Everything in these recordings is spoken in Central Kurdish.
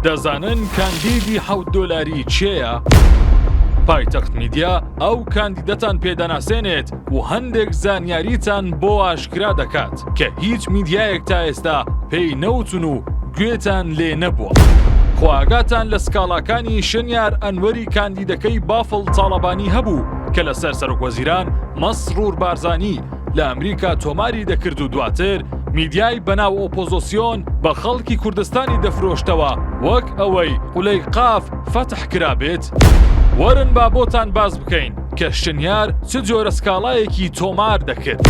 دەزانن کاندیدی حەوت دۆلاری چێە؟ پایتەخت میدیا ئەو کاندیدەتان پێدەناسێنێت و هەندێک زانیاریتان بۆ ئاشکرا دەکات کە هیچ میدیایەک تا ئێستا پێی نەوتون و گوێتان لێ نەبووە. خۆئاگاتان لە سکاڵاکانی شنیار ئەنوەری کاندیدەکەی بافڵ تاڵەبانی هەبوو کە لەسەر سەرۆک وەزیران مەسرور بارزانی لە ئەمریکا تۆماری دەکرد و دواتر میدیای بەناو ئۆپۆزۆسیۆن بە خەڵکی کوردستانی دەفرۆشتەوە وەک ئەوەی قولەیقاف فەتح کرابێت؟ وەرن با بۆتان باس بکەین کە شنیار چ جۆرە سکاڵایەکی تۆمار دەکرد.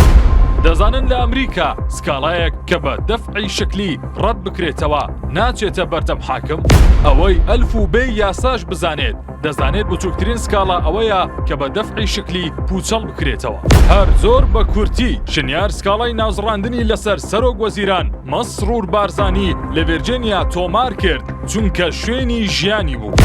دەزانن لە ئەمریکا سکاڵایەک کە بە دەفعی شکلی ڕەت بکرێتەوە ناچێتە بەردەم حاکم؟ ئەوەی ئەلف و بێی یاساش بزانێت، دەزانێت بچووکترین سکاڵا ئەوەیە کە بە دەفعی شکلی پوچەڵ بکرێتەوە هەر زۆر بە کورتی شنیار سکاڵای نازڕاندنی لەسەر سەرۆک وەزیران مەسرور بارزانانی لە ڤێرجێنیا تۆمار کرد چونکە شوێنی ژیانی بوو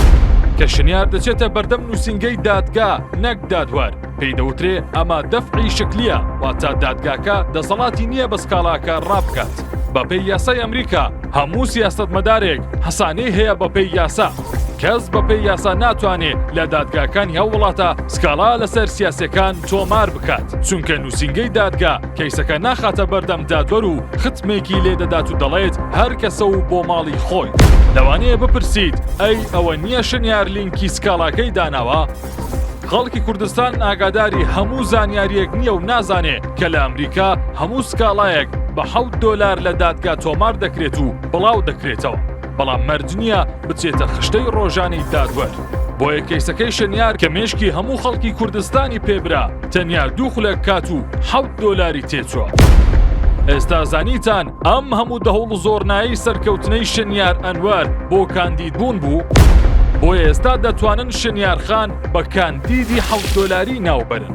کە شنیار دەچێتە بەردەم نووسنگەی دادگا نەک دادوەر پێی دەوترێ ئەمە دەفعی شکلیە واتە دادگاکە دەسەڵاتی نییە بە سکاڵاکە ڕابکات بەپێی یاسای ئەمریکا هەموو سیاست مەدارێک حەسانەی هەیە بەپێی یاسا کەس بەپێی یاسا ناتوانێ لە دادگاکانی هەو وڵاتە سکاڵا لەسەر سیاسەکان تۆمار بکات چونکە نووسنگەی دادگا کەیسەکە ناخاتە بەردەم دادوەر و ختمێکی لێدەدات و دەڵێت هەر کەسە و بۆ ماڵی خۆی لەوانەیە بپرسیت ئەی ئەوە نییە شنیار لینکی سکاڵاکەی داناوە؟ خەڵکی کوردستان ئاگاداری هەموو زانیاریەک نییە و نازانێ کە لە ئەمریکا هەموو سکاڵایەک بە حەوت دۆلار لە دادگا تۆمار دەکرێت و بڵاو دەکرێتەوە بەڵام مەرج نییە بچێتە خشتەی ڕۆژانی دادوەر. بۆیە کەیسەکەی شەنیار کە مێشکی هەموو خەڵکی کوردستانی پێبرا تەنیا دوو خولەک کات و حەوت دۆلاری تێچوە. ئێستا زانیتان ئەم هەموو دەهوڵ و زۆرنایی سەرکەوتنەی شنیار ئەنوەر بۆ کاندید بوون بوو بۆ ئێستا دەتوانن شنیارخان بە کاندیدی حەوت دۆلاری ناوبەرن.